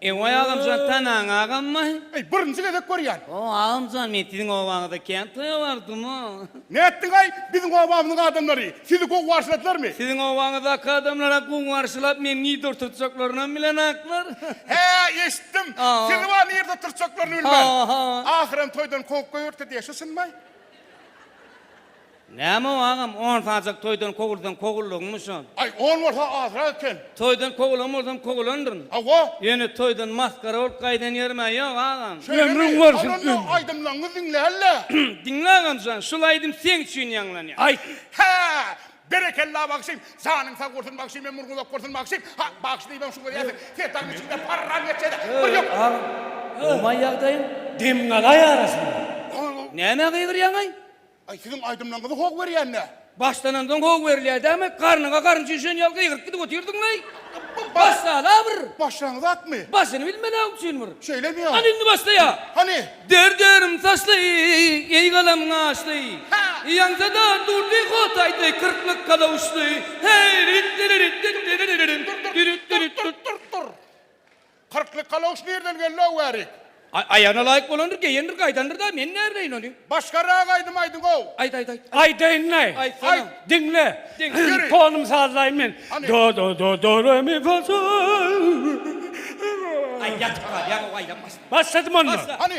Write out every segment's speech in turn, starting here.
Ewaý agamjan tanaň agammy? Eý birinji gezek görýän. O agamjan men siziň obaňyzda kän toýa bardymmy? Nätdiňaý biziň obamyzyň adamlary sizi gowy garşyladylarmy? Siziň obaňyzdaky adamlara gowy garşylap meni nirde oturtjaklarynam bilenaklar. Hä eşitdim. Sizi bar nirde oturtjaklaryny bilmän. Ahyram toýdan kowup goýberdi diýä şu çynmy? Näme-ow agam, on sajak toýdan kowulsaň kowuldygyňmy şo? Aý, on bolsa azrak eken. Toýdan kowulan bolsam kowulandyryn. Hawa. Ýöne toýdan masgara bolup gaýdan ýerim-ä ýok agam. Ömrüň bolsun, ömrüň. Onda aýdymlaňňy diňläl-le. Diňle agam jan, şul aýdym seň üçin ýaňlanýar. Aýt. Hä! Berekella bagşym! Janyň sag bolsun bagşym we murňy uzak bolsun bagşym! Ha, bagşy diýibem şuňa diýersiň. Sen taňňy çykyp-da parran geçýä-dä. Bir ýok. Öý, agam, gowumaý ýagdaýyň? Demgalaý arasynda. Näme gygyrýaň-aý? Aý siziň aýdymlaňyzy how berýän nä? Başlanandan how berilýär dämi? Garnyňa garynja üşen ýaly gygyryp gidip otyrdyň leý. Başlala bir. Başlaňyz atmy? Başyny bilmeläň üçin bir. Şeýlemi ýa? Hany indi başlaýa. Hany. Der derim saçly, eý galam gaşly. Ýaňsada durdy hotaýdy kyrklyk kalawuşly. Heý, rit-diri-rit-dit-diri-ri-ri-rim. Dürit-dürit-dürt-dürt-dürt-dürt-dürt. Kyrkly kaloş nirden geldi-ow Wärik? Aý, aýagyna laýyk bolandyr, geýendir, gaýdandyr-da, men näbileýin ony? Başgarak aýdym aýdyň-ow! Aýt, aýt, aýt! Aýdaýyn-laý! Aýtsana! Aýt! Diňle! Diňle! Ýöri! Tonumy sazlaýyn men. Hany! Do, do, do, do, re, mi, fa, sol. Aý, ýatyp galýaň-ow, aýdam başla! Başladym onda! Başla! Hany!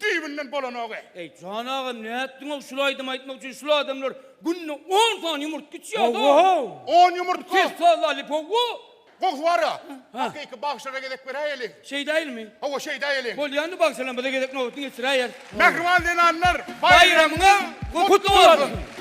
düýbünden bolanogy. Eý, jan agam, nätdiňow şul aýdymy aýtmak üçin, şul adamlar günde on sany ýumurtga içýäd-ow. On ýumurtga? Kes salla lipowo. Goh wara, hakyky bagşylara gezek beräýeliň. Şeýdäýelmi? Hawa, şeýdäýeliň. Bolýandy bagşylaň bize gezek nobatyny geçiräýer. Mähriban zenanlar, baýramyňyz gutly bolsun!